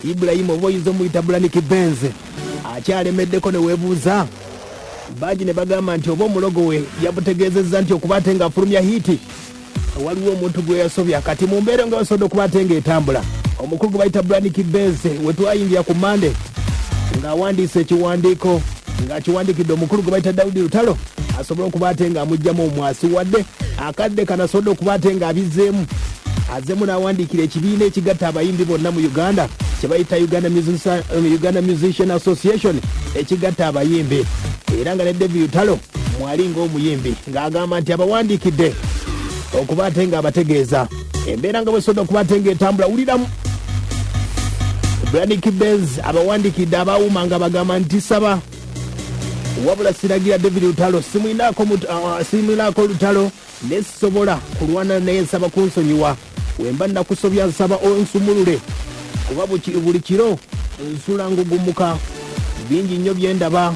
Ibrahim oba oyinza omuyita Bulaniki Benze akyalemeddeko ne weebuuza bangi ne bagamba nti oba omulogo we yabutegeezezza nti okuba ate ng'afulumya hiiti waliwo omuntu gwe yasobya kati mu mbeera nga basobodde okuba ate ng'etambula omukulu gwe bayita Bulaniki Benze we twayingira ku Mande ng'awandiisa ekiwandiiko ng'akiwandikidde omukulu gwe bayita Daudi Lutalo asobole okuba ate ng'amugyamu omwasi wadde akadde kanasobodde okuba ate ng'abizzeemu azemu n'awandiikira ekibiina ekigatta abayimbi bonna mu uganda kyebayita um, uganda musician association ekigatta abayimbi era nga ne devi utalo mwali ng'omuyimbi ng'agamba nti abawandiikidde okuba ate ng'abategeeza embeera nga bwesoda okuba ate ng'etambula wuliramu branik bens abawandiikidde abawuma nga bagamba nti saba wabula siragira david lutalo simwinaako uh, uh, lutalo Ne sisobola kulwana naye nsaba kunsonyiwa wemba nakusobya nsaba onsumulule kuba buli kiro nsula ngugumuka bingi nnyo byendaba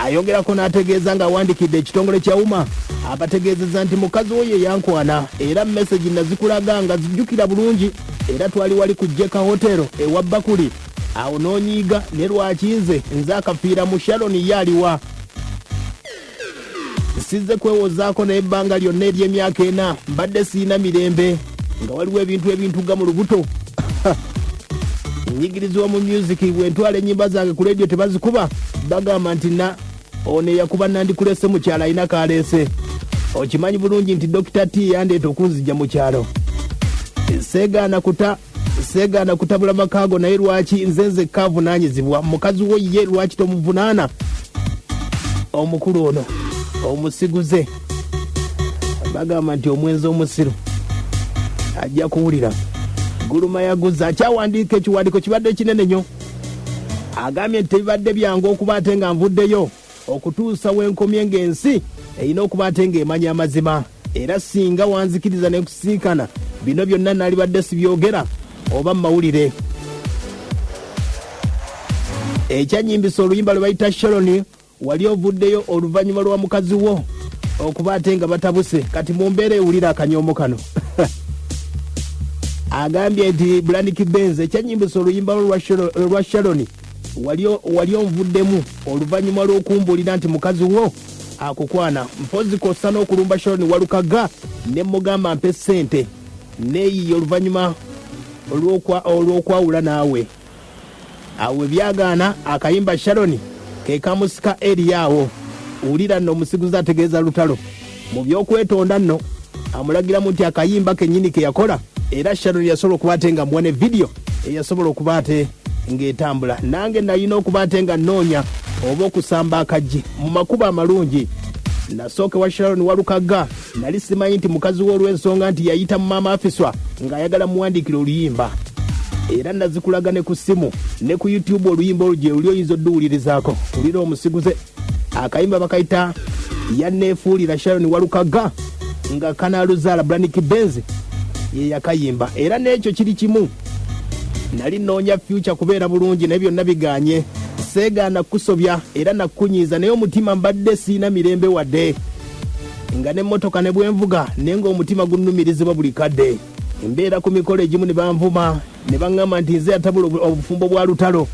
ayongerako n'ategeeza ng'awandikidde ekitongole kya uma abategeezeza nti mukazi wo ye yankwana era mesegi nazikulaga nga zijjukira bulungi era twali wali ku jeka hotero ewa bakuli awo nonyiiga ne lwaki nze nze akafiira mu sharon ye aliwa sizze kwewozaako naye ebbanga lyonna ery'emyaka ena mbadde siyina mirembe nga waliwo ebintu ebintuga mu lubuto nyigirizibwa mu myuziki bwentwala ennyimba zange ku leediyo tebazikuba bagamba nti na ono eyakuba nandikulese mu kyalo alina kaleese okimanyi bulungi nti dokita t yandeeta okunzija mu kyalo seegaana kuta seegaana kutabula makaago naye lwaki nze nzekka avunaanyizibwa mukazi wo ye lwaki tomuvunaana omukulu ono omusiguze bagamba nti omwenzi omusiru ajja kuwulira guluma yaguze akyawandiika ekiwandiiko kibadde kinene nyo agambye nti tebibadde byangu okuba ate nga nvuddeyo okutuusa wenkomye nga ensi erina okuba ate nga emanya amazima era singa wanzikiriza nekusiikana bino byonna nalibadde sibyogera oba mumawulire ekyanyimbisa oluyimba lwe bayita sharoni wali ovuddeyo oluvannyuma lwa mukazi wo okuba ate nga batabuse kati mu mbeera ewulira akanyoomo kano agambye nti blandiki benz ekyanyimbisa oluyimba lwo lwa sharoni wali onvuddemu oluvanyuma lwokumbulira nti mukazi wo akukwana mpozi kossa n'okulumba sharon walukaga ne mugamba mpe ssente neeyiye oluvanyuma olwokwawula naawe awe byagaana akayimba sharon kekamusika eriyaawo wulira nno omusiguzi ategeeza lutalo mu by'okwetonda nno amulagiramu nti akayimba kennyini ke yakola era sharon yasobola okuba ate nga muwa ne vidiyo eyasobola okuba ate ng'etambula nange nalina okuba ate nga nnoonya oba okusamba akaggi mu makubo amalungi nasooke wa sharon walukagga nali simanyi nti mukazi we olw'ensonga nti yayita mu maama afiswa ng'ayagala muwandiikira oluyimba era nazikulaga ne ku ssimu ne ku youtube oluyimba olugye luli oyinza odduwulirizaako wulira omusiguze akayimba bakayita yanneefuulira sharon walukaga nga kanaluzaala branik benzi ye yakayimba era n'ekyo kiri kimu nali nnoonya fyuca kubeera bulungi naye byonna biganye seegaana kukusobya era nakukunyiiza naye omutima mbadde siina mirembe wadde nga n'emmotoka ne bwenvuga naye ng'omutima gunnumirizibwa buli kadde embeera ku mikolo egimu ne banvuma ne baŋŋamba nti nze yatabula obufumbo bwa lutalo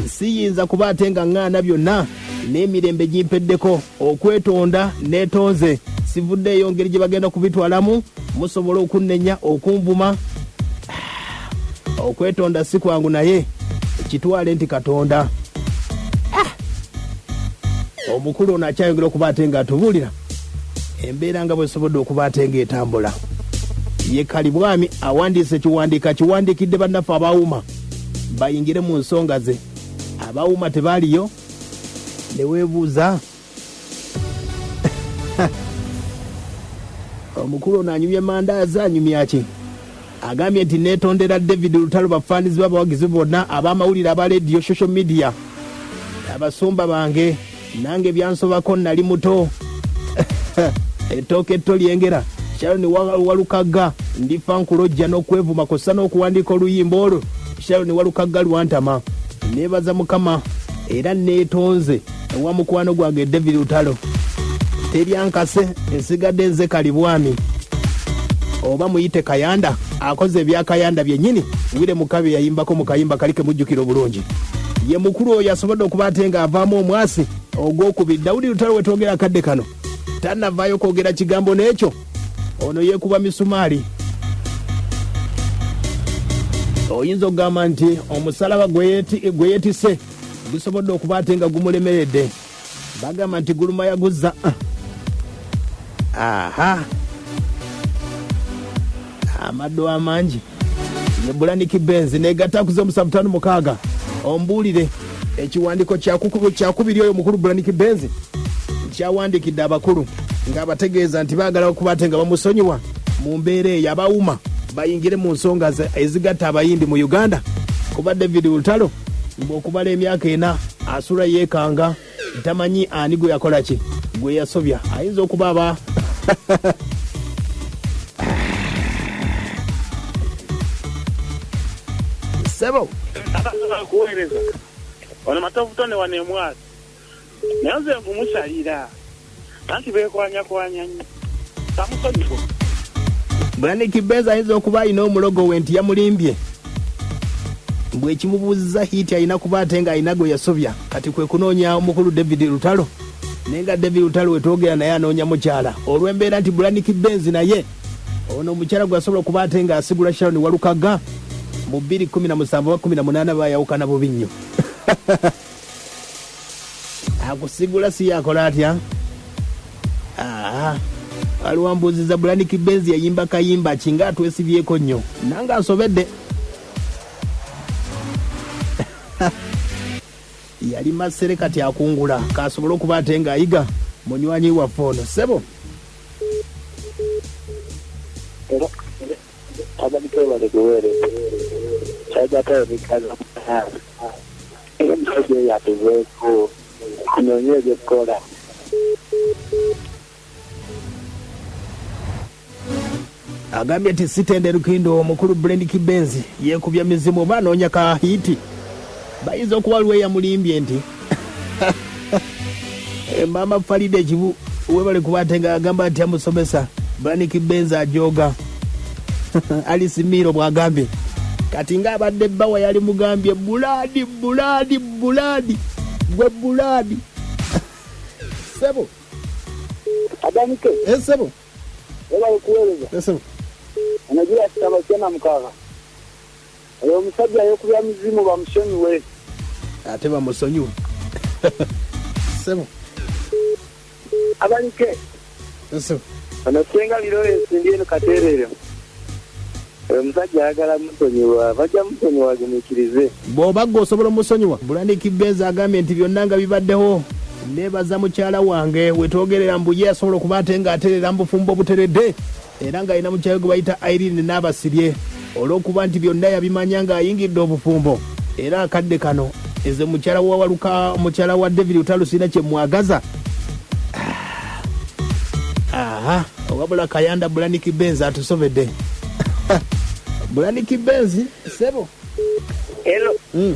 Siyinza kuba ate nga ŋŋaana byonna n'emirembe gimpeddeko okwetonda neetonze. Sivuddeeyo ngeri gye bagenda kubitwalamu. Musobola okunnenya, okunvuma. Ah, okwetonda si kwangu naye kitwale nti Katonda ah! omukulu ono akyayongera okuba ate ng'atubuulira embeera nga bwesobodde okuba ate ng'etambula ye kalibwami awandiisa ekiwandiiko akiwandiikidde bannaffe abaawuma bayingire mu nsonga ze abawuma tebaaliyo neweebuuza omukulu ono anyumya mandaazi anyumya ki agambye nti neetondera david lutalo bafaanizi babawagizi bonna ab'amawulire aba lediyo social media abasumba bange nange byansobako nali muto ettooka etto lyengera sharon Wa- walukagga ndifa nkulojja n'okwevuma kw'ossa n'okuwandiika oluyimba olwo sharon walukagga lwantama neebaza mukama era neetonze ewa mukwano gwange david lutalo teryankase nsigadde nze kalibwami oba muyite kayanda akoze ebya kayanda byennyini wire mukabi yayimbako mu kayimba kali kemujjukira obulungi ye mukulu oyo asobodde okuba ate ng'avaamu omwasi ogwokubiri dawudi lutalo wetwogera akadde kano tanavaayo kwogera kigambo n'ekyo ono yekuba misumaali oyinza okugamba nti omusalaba gwe yeti- gwe yetise gusobodde okuba ate nga gumulemeredde bagamba nti guluma yaguza aha amaddo amangi nebulaniki benzi negata kuza omusanvu tano mukaaga ombuulire ekiwandiiko kyakuku- kyakubiri oyo mukulu bulaniki benzi kyawandikidde abakulu ng'abategeeza nti baagala okuba ate nga bamusonyiwa mu mbeera eyo abawuma bayingire mu nsonga ze- ezigatta abayimbi mu uganda kuba david lutalo mbu okumala emyaka ena asula yekanga tamanyi ani gwe yakola ki gwe yasobya ayinza okuba aba sebo Ono matovu tone wano emwasi naye nze nkumusalira anti bekwanyakwanya nyo samusonyiwa brani kibeza ayinza okuba alina omulogo we nti yamulimbye bwekimubuzza hiiti alina kuba ate nga alina gwe yasobya kati kwe kunoonya omukulu david lutalo naye nga david lutalo wetwogera naye anoonya mukyala olw'embeera nti brani kibenzi naye ono omukyala gwe asobola okuba ate nga asigula sharon walukaga mu 217 ba 18 bayawukana bubi nnyo akusigula si yakola atya waliwo ah, mbuuziza bulaniki benzi yayimba kayimba kinga atwesibyeko nnyo nange asobedde yali masere kati akungula kasobole okuba ate ng'ayiga munywanyi waffe ono sebo Abali kwebale kuweereza kyagata ebikaza mutaano era omusajja oyo atuveeko tunoonye ebyokukola agambye nti sitende lukindo omukulu brend kibenzi yeekubya mizimu oba anoonya ka hiiti bayinza okuba lweyamulimbye nti Eh, maama falida ekibu webale kuba ate nga agamba nti amusomesa braniki benza ajoga alisi miiro bwagambye kati nga abadde bbawa yali mugambye bulaadi bulaadi bulaadi gwe bulaadi sebo adanike Eh, sebo webale kuweereza esebo anagira kitaba kyana mukaaga Oyo omusajja yekubya muzimu bamusonyiwe. Ate bamusonyiwe. Sebo. Abalike. Sebo. Ono senga Lawrence ndi eno katerere. Oyo omusajja ayagala musonyiwa bajja musonyiwa agumiikirize. Bw'oba gwe osobola omusonyiwa. Bulaniki Benz agambye nti byonna nga bibaddewo neebaza mukyala wange wetwogerera mbu ye yasobola okuba ate ng'atereera mu bufumbo obuteredde. era ng'alina mukyawe gwe bayita Irene Naabasirye olw'okuba nti byonna yabimanya ng'ayingidde obufumbo era akadde kano eze mukyala wa waluka mukyala wa David Lutalo sirina kye mwagaza aha wabula kayanda bulaniki benzi atusobedde bulaniki benzi sebo Hello. mm.